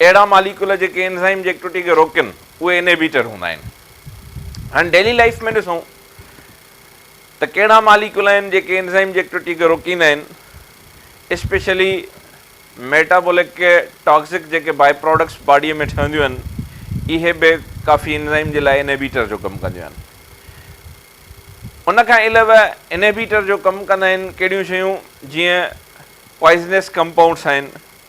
اهڙا ماليڪيول جيڪي انزائم جي ايڪٽوٽي کي روڪين اهي انهيبيٽر هوندا آهن. هاڻي ڊيلي لائيف ۾ ڏسون ته ڪهڙا ماليڪيول آهن جيڪي انزائم جي ايڪٽوٽي کي روڪيندا آهن اسپيشلي ميٽابولڪ ٽاڪسڪ جيڪي باء پراڊڪٽس باڊي ۾ ٺهنديون آهن اهي به ڪافي انزائم جي لاء انهيبيٽر جو ڪم ڪنديون آهن. ان کان علاوه انهيبيٽر جو ڪم ڪندا آهن ڪهڙيون شيون جيئن پوائزنيس ڪمپائونڊس آهن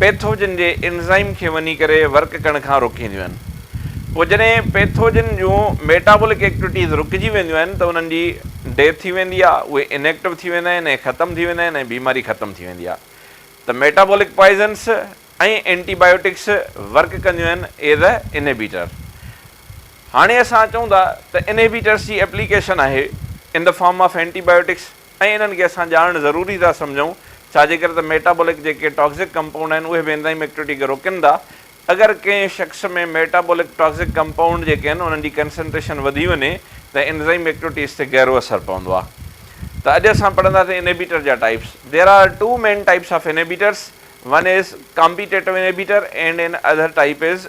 پيٿوجن جي انزائم کي وڃي ڪري ورڪ ڪرڻ کان روڪينديون آهن. پوء جڏهن پيٿوجن جون ميٽابولڪ ايڪٽويٽيز رڪجي وينديون آهن ته انهن جي ڊيٿ ٿي ويندي آهي، اهي ان ايڪٽو ٿي ويندا آهن ۽ ختم ٿي ويندا آهن ۽ بيماري ختم ٿي ويندي آهي ته metabolic poisons ۽ antibiotics work ڪنديون آهن ايز اي انهبيٽر. هاڻي اسان چئون ٿا ته انهبيٽرس جي ايپليڪيشن آهي in the form of antibiotics ۽ انهن کي اسان ڄاڻڻ ضروري ٿا سمجهون، ڇا جي ڪري ته ميٽابولڪ جيڪي ٽاڪسڪ ڪمپائونڊ آهن اهي به انزائم ايڪٽوٽي کي روڪين ٿا. اگر ڪنهن شخص ۾ ميٽابولڪ ٽاڪسڪ ڪمپائونڊ جيڪي آهن انهن جي ڪنسنٽريشن وڌي وڃي ته انزائم ايڪٽوٽيز تي گهرو اثر پوندو آهي. ته اڄ اسان پڙهنداسين انهيبيٽر جا types. There are two main types of inhibitors. One is Competitive inhibitor and an other type is.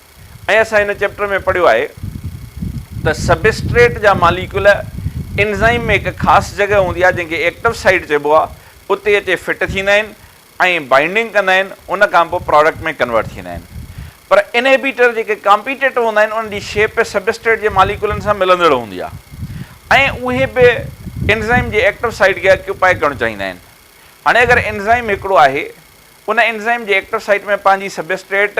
۽ اسان هن چيپٽر ۾ پڙهيو آهي ته سبسٽريٽ جا ماليڪيول انزائم ۾ هڪ خاص جڳهه هوندي آهي جنهن کي ايڪٽو سائيٽ چئبو آهي اتي اچي فٽ ٿيندا آهن ۽ بائنڊنگ ڪندا آهن ان کان پوء پراڊڪٽ ۾ ڪنورٽ ٿيندا آهن پر انهبيٽر جيڪي ڪامپيٽيٽو هوندا آهن انهن جي شيپ به سبسٽريٽ جي ماليڪيولن سان ملندڙ هوندي آهي ۽ اهي به انزائم جي ايڪٽو سائيٽ کي اڪيوپائي ڪرڻ چاهيندا آهن هاڻي اگر انزائم هڪڙو آهي ان انزائم جي ايڪٽو سائيٽ ۾ پنهنجي سبسٽريٽ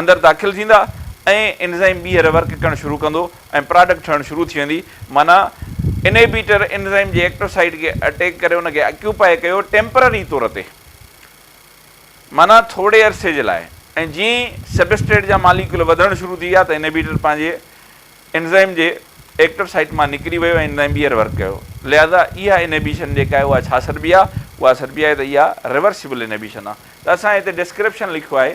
اندر داخل ٿيندا ۽ انزائم ٻيهر ورڪ ڪرڻ شروع ڪندو ۽ پراڊڪٽ ٺهڻ شروع ٿي ويندي معنيٰ انهيبيٽر انزائم جي ايڪٽو سائيٽ کي اٽيڪ ڪري ان کي اڪيوپائي ڪيو ٽيمپرري طور تي معنيٰ ٿورڙي عرصي جي لاء ۽ جيئن سبسٽريٽ جا ماليڪيول وڌڻ شروع ٿي ويا ته انهيبيٽر پنهنجي انزائم جي ايڪٽو سائيٽ مان نڪري ويو ۽ انزائم ٻيهر ورڪ ڪيو لهذا اها انهيبيشن جيڪا آهي اها ڇا سڏبي آهي اها سڏبي آهي ته اها ريورسيبل انهيبيشن آهي ته اسان هتي ڊسڪرپشن لکيو آهي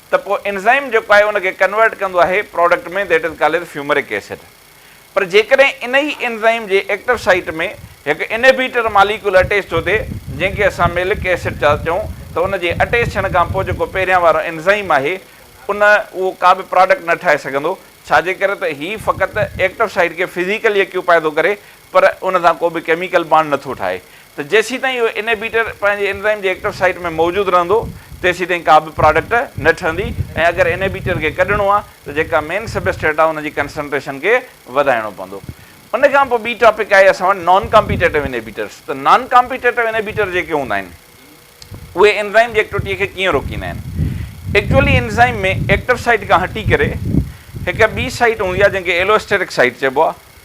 ته پوء انزائم جيڪو آهي ان کي ڪنورٽ ڪندو آهي product ۾ that is called as fumaric acid پر جيڪڏهن ان ئي انزائم جي ايڪٽو سائيٽ ۾ هڪ انهبيٽر ماليڪول اٽيچ ٿو ٿئي جنهن کي اسان ميلڪ ايسڊ ٿا چئون ته ان جي اٽيچ ٿيڻ کان پوء جيڪو پهريان وارو انزائم آهي ان اهو ڪا به پراڊڪٽ نه ٺاهي سگهندو ڇا جي ڪري ته هي فقط ايڪٽو سائيٽ کي فزيڪلي اڪيوپائي ٿو ڪري پر ان سان ڪو به ڪيميڪل بانڊ نه ٿو ٺاهي ته جيسيتائين اهو انهيبيٽر پنهنجي انزائيم جي ايڪٽو سائيٽ ۾ موجود رهندو تيسيتائين ڪا به پراڊڪٽ نه ٺهندي ۽ اگر انهيبيٽر کي ڪڍڻو آهي ته جيڪا مين سبسٽريٽ آهي ان جي ڪنسنٽريشن کي وڌائڻو پوندو ان کان پوء ٻي ٽاپڪ آهي اسان وٽ نان ڪامپيٽيٽو انهيبيٽرس ته نان ڪامپيٽيٽو انهيبيٽر جيڪي هوندا آهن اهي انزائيم جي ايڪٽوٽي کي ڪيئن روڪيندا آهن ايڪچوئلي انزائيم ۾ ايڪٽو سائيٽ کان هٽي ڪري هڪ ٻي سائيٽ هوندي آهي جنهن کي ايلوسٽيرڪ سائيٽ چئبو آهي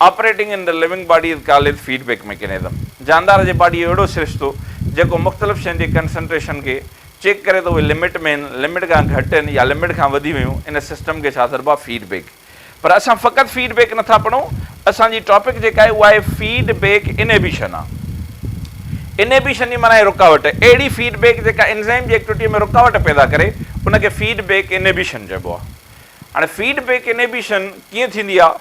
Operating in the Living Body is called as Feedback Mechanism. جاندار جي باڊي جو اهڙو سرشتو جيڪو مختلف شين جي ڪنسنٽريشن کي چيڪ ڪري ته اهي لمٽ ۾ آهن، لمٽ کان گهٽ آهن يا لمٽ کان وڌي ويون، ان سسٽم کي ڇا سڏبو آهي فيڊ بيڪ. پر اسان فقط فيڊ بيڪ نٿا پڙهون، اسان جي ٽاپڪ جيڪا آهي اها آهي فيڊ بيڪ انهبيشن. انهبيشن جي معنيٰ آهي رڪاوٽ، اهڙي فيڊ بيڪ جيڪا انزيم جي ايڪٽوٽيء ۾ رڪاوٽ پيدا ڪري ان کي فيڊ بيڪ انهبيشن چئبو آهي. هاڻي فيڊ بيڪ انهيبيشن ڪيئن ٿيندي آهي،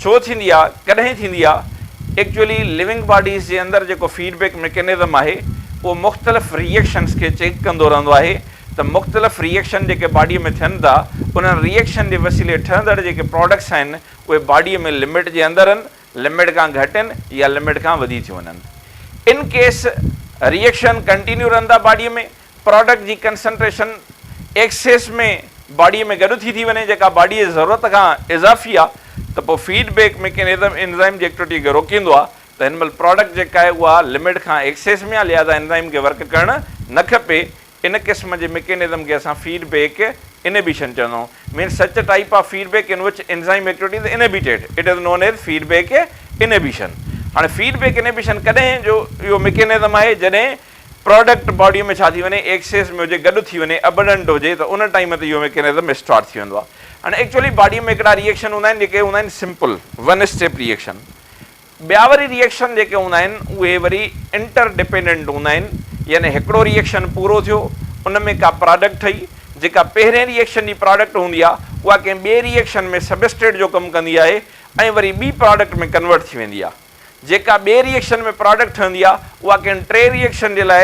ڇو ٿيندي آهي، ڪڏهن ٿيندي آهي؟ ايڪچوئلي لوئنگ باڊيز جي اندر جيڪو فيڊ بيڪ ميڪنزم آهي اهو مختلف ري ايڪشنز کي چيڪ ڪندو رهندو آهي ته مختلف ري ايڪشن جيڪي باڊي ۾ ٿين ٿا انهن ري ايڪشن جي وسيلي ٺهندڙ جيڪي پراڊڪٽس آهن اهي باڊي ۾ لمٽ جي اندر ان لمٽ کان گهٽ ان يا لمٽ کان وڌي ٿيون وڃن ان ڪيس ري ايڪشن ڪنٽينيو رهن ٿا باڊي ۾ پراڊڪٽ جي ڪنسنٽريشن ايڪسيس ۾ باڊي ۾ گڏ ٿي ٿي وڃي جيڪا باڊي جي ضرورت کان اضافي آ ته پوء فيڊ بيڪ ميڪنزم انزائم جي ايڪٽوٽي کي روڪيندو آ ته هن مهل پراڊڪٽ جيڪا آهي اها لمٽ کان ايڪسيس ۾ آ لهذا انزائم کي ورڪ ڪرڻ نه کپي ان قسم جي ميڪنزم کي اسان فيڊ بيڪ انهبيشن چوندا آهيون main such type of feedback in which enzyme activity is inhibited it is known as feed back انهبيشن هاڻي فيڊ بيڪ انهبيشن ڪڏهن جو اهو ميڪنزم آهي جڏهن پراڊڪٽ باڊي ۾ ڇا ٿي وڃي ايڪسيس ۾ هجي گڏ ٿي وڃي ابنڊنٽ هجي ته ان ٽائيم تي اهو ميڪينزم اسٽارٽ ٿي ويندو آهي هاڻي ايڪچوئلي باڊي ۾ هڪڙا ريئيڪشن هوندا آهن جيڪي هوندا آهن سمپل ون اسٽيپ ريئيڪشن ٻيا وري ريئيڪشن جيڪي هوندا آهن اهي وري انٽر ڊپينڊنٽ هوندا آهن يعني هڪڙو ريئيڪشن پورو ٿيو ان ۾ ڪا پراڊڪٽ ٺهي جيڪا پهرين ريئيڪشن جي پراڊڪٽ هوندي آهي اها ڪنهن ٻئي ريئيڪشن ۾ سبسٽريٽ جو ڪم ڪندي آهي ۽ وري ٻي پراڊڪٽ ۾ ڪنورٽ ٿي ويندي آهي. جيڪا ٻئي ري ايڪشن ۾ پراڊڪٽ ٺهندي آهي اها ڪنهن ٽئين ري ايڪشن جي لاء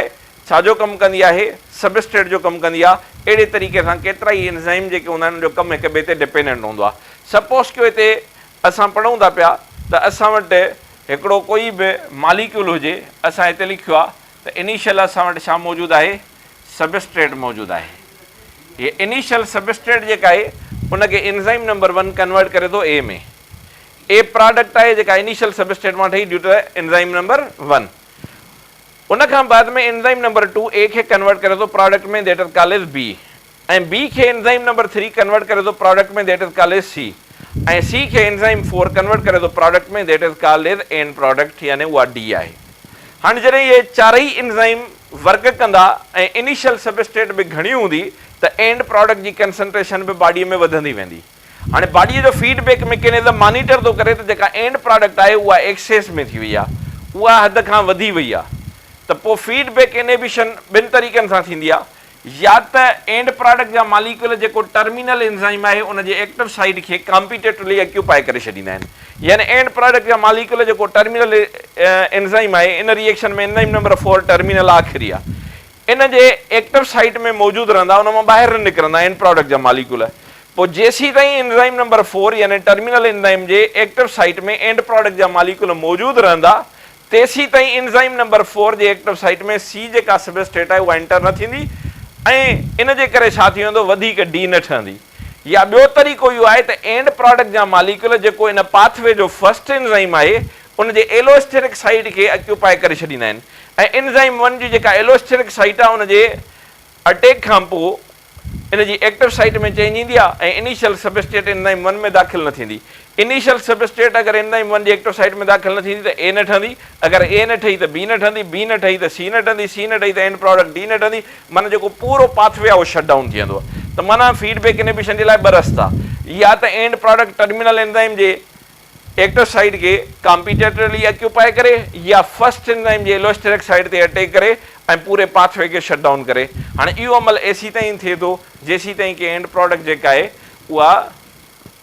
ڇا جو ڪم ڪندي آهي؟ سبسٽريٽ جو ڪم ڪندي آهي. اهڙي طريقي سان ڪيترائي انزائم جيڪي هوندا آهن ان جو ڪم هڪ ٻئي تي ڊپينڊنٽ هوندو آهي. سپوز ڪيو هتي اسان پڙهون ٿا پيا ته اسان وٽ هڪڙو ڪوئي به ماليڪيول هجي اسان هتي لکيو آهي ته انيشل اسان وٽ ڇا موجود آهي سبسٽريٽ موجود آهي هي انيشل سبسٽريٽ جيڪا آهي ان کي انزائم نمبر ون ڪنورٽ ڪري ٿو اي ۾ اي پراڊڪٽ آهي جيڪا انيشل سبسٽريٽ مان ٺهي due to the enzyme number one ان کان بعد ۾ انزائيم نمبر ٽو اي کي ڪنورٽ ڪري ٿو product ۾ that is called as B ۽ B کي انزائيم نمبر ٿري ڪنورٽ ڪري ٿو product ۾ that is called as C ۽ C کي انزائيم فور ڪنورٽ ڪري ٿو product ۾ that is called as end product يعني اها ڊي آهي هاڻي جڏهن اهي چارئي انزائيم ورڪ ڪندا ۽ انيشل سبسٽريٽ به گهڻي هوندي ته اينڊ پراڊڪٽ جي ڪنسنٽريشن به باڊي ۾ وڌندي ويندي. هاڻي باڊيء جو فيڊ بيڪ ميڪينزم مانيٽر ٿو ڪري ته جيڪا اينڊ پراڊڪٽ آهي اها ايڪسيس ۾ ٿي وئي آهي اها حد کان وڌي وئي آهي ته پوء فيڊ بيڪ انهبيشن ٻن طريقن سان ٿيندي آهي يا ته اينڊ پراڊڪٽ جا ماليڪيول جيڪو ٽرمينل انزائيم آهي ان جي ايڪٽو سائيٽ کي ڪامپيٽيٽولي اڪيوپائي ڪري ڇڏيندا آهن يعني اينڊ پراڊڪٽ جا ماليڪيول جيڪو ٽرمينل انزائيم آهي ان reaction ۾ enzyme number four terminal آخري آهي ان جي ايڪٽو سائيٽ ۾ موجود رهندا ان مان ٻاهر نه نڪرندا اينڊ پراڊڪٽ جا ماليڪول پوء جيسيتائين انزائم نمبر فور يعني ٽرمينل انزائم جي ايڪٽو سائيٽ ۾ اينڊ پراڊڪٽ جا ماليڪول موجود رهندا تيسيتائين انزائم نمبر فور جي ايڪٽو سائيٽ ۾ سي جيڪا سبسٽريٽ آهي اها انٽر نه ٿيندي ۽ ان جي ڪري ڇا ٿي ويندو وڌيڪ ڊي نه ٺهندي. يا ٻيو طريقو اهو آهي ته اينڊ پراڊڪٽ جا ماليڪيول جيڪو ان پاٿ وي جو فرسٽ انزائيم آهي ان جي ايلواسٽيرڪ سائيٽ کي اڪيوپائي ڪري ڇڏيندا آهن ۽ انزائيم ون جي جيڪا ايلواسٽيرڪ سائيٽ آهي ان جي اٽيڪ کانپوء ان جي ايڪٽو سائيٽ ۾ چينج ايندي آهي ۽ انيشل سبسٽريٽ انزائيم ون ۾ داخل نه ٿيندي انيشل سبسٽريٽ اگر اينزائيم ون جي ايڪٽو سائيٽ ۾ داخل نه ٿيندي ته اي نه ٺھندي، اگر اي نه ٺھي ته بي نه ٺھندي، بي نه ٺھي ته سي نه ٺھندي، سي نه ٺھي ته اينڊ پراڊڪٽ ڊي نه ٺھندي، معنيٰ جيڪو پورو پاٿ وي آهي اهو شٽ ڊائون ٿي ويندو. ته معنيٰ فيڊ بيڪ انهبيشن جي لاء ٻه رستا يا ته اينڊ پراڊڪٽ ٽرمينل اينزائيم جي ايڪٽو سائيٽ کي ڪامپيٽيٽرلي اڪيوپائي ڪري يا فرسٽ اينزائيم جي الوسٽيرڪ سائيٽ تي اٽيڪ ڪري ۽ پوري پاٿ وي کي شٽ ڊائون ڪري. هاڻي اهو عمل ايسيتائين ٿئي ٿو جيسيتائين ڪي اينڊ پراڊڪٽ جيڪا آهي اها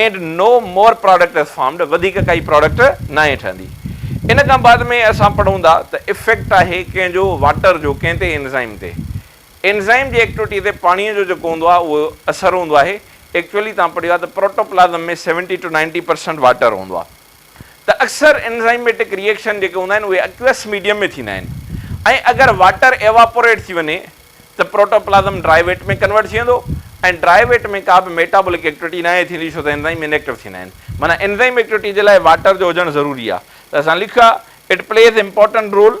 end no more product is formed وڌيڪ ڪائي پراڊڪٽ ناهي ٺهندي. ان کان بعد ۾ اسان پڙهون ٿا ته افيڪٽ آهي ڪنهن جو واٽر جو ڪنهن تي اينزائم تي. اينزائم جي ايڪٽوٽي تي پاڻي جو جيڪو هوندو آهي اهو اثر هوندو آهي ايڪچوئلي توهان پڙهيو آهي ته protoplasm ۾ seventy to ninety percent water هوندو آهي. ته اڪثر انزائميٽڪ ري ايڪشن جيڪي هوندا آهن اهي اڪيوئس ميڊيم ۾ ٿيندا آهن ۽ اگر واٽر ايواپوريٽ ٿي وڃي ته پروٽوپلازم ڊرائي ويٽ ۾ ڪنورٽ ٿي ويندو ۽ ڊرائي ويٽ ۾ ڪا به ميٽابولڪ ايڪٽوٽي ناهي ٿيندي ڇو ته انزائم انيڪٽو ٿيندا آهن معنيٰ انزائم ايڪٽوٽي جي لاء واٽر جو هجڻ ضروري آهي ته اسان لکيو آهي اٽ پليز امپورٽنٽ رول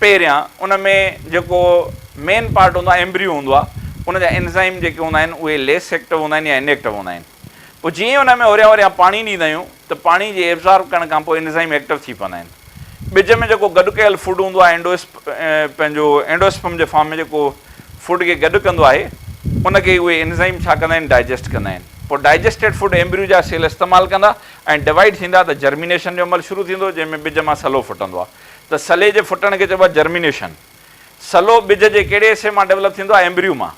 پهريان ان ۾ جيڪو مين پارٽ هوندو آهي ايمبريو هوندو آهي ان جا انزائم جيڪي هوندا آهن اهي ليس ايڪٽو هوندا آهن يا ان ايڪٽو هوندا آهن پوء جيئن ان ۾ هوريان هوريان پاڻي ڏيندا آهيون ته پاڻي جي ايبزارب ڪرڻ کان پوء انزائم ايڪٽو ٿي پوندا آهن ٻج ۾ جيڪو گڏ ڪيل فوڊ هوندو آهي اينڊو پنهنجو اينڊوسپم جي فارم ۾ جيڪو فوڊ کي گڏ ڪندو آهي ان کي اهي انزائم ڇا ڪندا آهن ڊائجسٽ ڪندا آهن پوء ڊائجسٽيڊ فوڊ ايمبريو جا سيل استعمال ڪندا ۽ ڊوائيڊ ٿيندا ته جرمينيشن جو عمل شروع ٿيندو جنهن ۾ ٻج مان سلو ڦٽندو آهي ته سلي جي ڦٽڻ کي چئبو آهي جرمينيشن. سلو ٻج جي ڪهڙي حصي مان ڊولپ ٿيندو آهي؟ ايمبريو مان.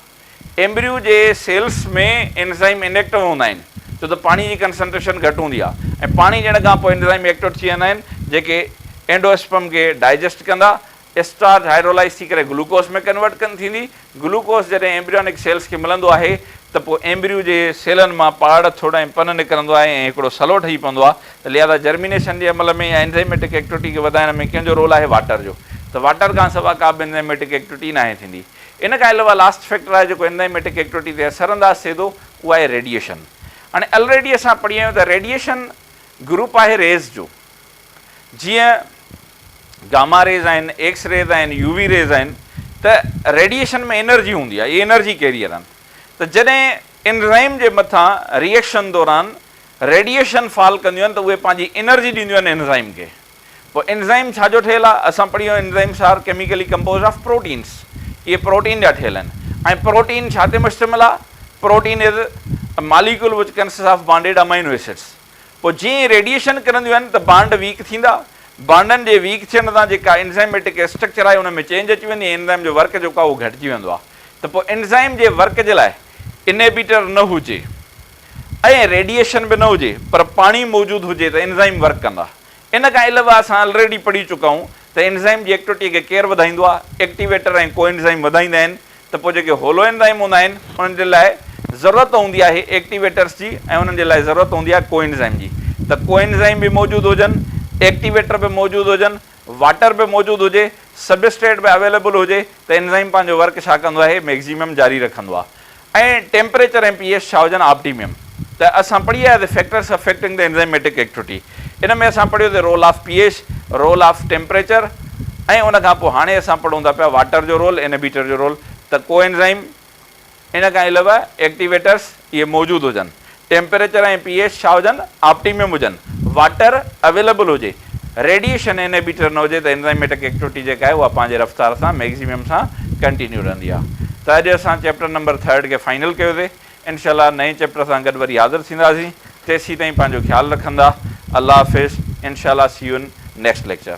ايمبريو جي سيلز ۾ انزائم انيڪٽو هوندا آهن ڇو ته پاڻي جي ڪنسنٽريشن گهٽ هوندي آهي ۽ پاڻي ڏيڻ کان پوء انزائم ايڪٽوٽ ٿي ويندا آهن جيڪي اينڊوسپرم کي ڊائجسٽ ڪندا. اسٽارچ هائيڊرولائز ٿي ڪري گلوڪوز ۾ ڪنورٽ ڪن ٿيندي. گلوڪوز جڏهن ايمبريونڪ سيلز کي ملندو آهي ته پوء ايمبريو جي سيلن مان پاڙ، ٿڙ ۽ پن نڪرندو آهي ۽ هڪڙو سلو ٺهي پوندو آهي ته لهذا جرمينيشن جي عمل ۾ يا انزيميٽڪ ايڪٽوٽي کي وڌائڻ ۾ ڪنهن جو رول آهي؟ واٽر جو ته واٽر کان سوا ڪا به انزيميٽڪ ايڪٽوٽي ناهي ٿيندي. ان کان علاوه لاسٽ فيڪٽر آهي جيڪو انزيميٽڪ ايڪٽوٽي تي اثر انداز ٿئي ٿو اهو آهي ريڊيئيشن. هاڻي الريڊي اسان پڙهي آيون ته ريڊيئيشن گروپ آهي ريز جو جيئن گاما ريز آهن، ايڪس ريز آهن، يو وي ريز آهن ته ريڊيئيشن ۾ انرجي هوندي آهي، اهي انرجي ڪيريئر آهن ته جڏهن انزائم جي مٿان ريئيڪشن دوران ريڊيئيشن فال ڪنديون آهن ته اهي پنهنجي انرجي ڏينديون آهن انزائم کي. پوء انزائم ڇا جو ٺهيل آهي؟ اسان پڙهيو enzymes are chemically composed of proteins اهي پروٽين جا ٺهيل آهن ۽ پروٽين ڇا تي مشتمل آهي؟ Protein is molecule which consists of bonded amino acids. پوء جيئن ئي ريڊيئيشن ڪرنديون آهن ته بانڊ ويڪ ٿيندا، بانڊن جي ويڪ ٿيڻ سان جيڪا انزائميٽڪ اسٽرڪچر آهي ان ۾ چينج اچي ويندي ۽ انزائم جو ورڪ جيڪو آهي اهو گهٽجي ويندو آهي ته پوء انزائم جي ورڪ جي لاء انهيبيٽر نه هجي ۽ ريڊيئيشن به نه هجي پر پاڻي موجود هجي ته انزائم ورڪ ڪندا. ان کان علاوه اسان الريڊي پڙهي چڪا آهيون ته انزائم جي ايڪٽوٽي کي ڪير وڌائيندو آهي، ايڪٽيويٽر ۽ ڪو انزائم وڌائيندا آهن ته پوء جيڪي هولو انزائيم هوندا آهن انهن جي لاء ضرورت هوندي آهي ايڪٽيويٽرس جي ۽ انهن جي لاء ضرورت هوندي آهي ڪو انزائيم جي ته ڪو انزائيم به موجود هجن ايڪٽيويٽر به موجود هجن واٽر به موجود هجي سبسٽريٽ به اويليبل هجي ته انزائيم پنهنجو ورڪ ڇا ڪندو آهي ميگزيمم جاري رکندو آهي ۽ ٽيمپريچر ۽ پي ايچ ڇا هجن آپٽيميم ته اسان پڙهي آياسي factors affecting the enzymatic activity ان ۾ اسان پڙهيو سي role of P H, role of temperature ۽ ان کان پوء هاڻي اسان پڙهون ٿا پيا واٽر جو رول، انهبيٽر جو رول ته ڪو انزائيم ان کان علاوه ايڪٽيويٽرس اهي موجود هجن، ٽيمپريچر ۽ پي ايش ڇا هجن آپٽيمم هجن، واٽر اويليبل هجي، ريڊيئيشن انهبيٽر نه هجي ته انزائيميٽڪ ايڪٽوٽي جيڪا آهي اها پنهنجي رفتار سان ميگزيمم سان ڪنٽينيو رهندي آهي ته اڄ اسان چيپٽر نمبر ٿرڊ کي فائنل ڪيو سي. انشاء الله نئين چيپٽر سان گڏ وري حاضر ٿينداسين تيسين تائين پنهنجو خيال رکندا الله حافظ انشاء الله see you in next lecture.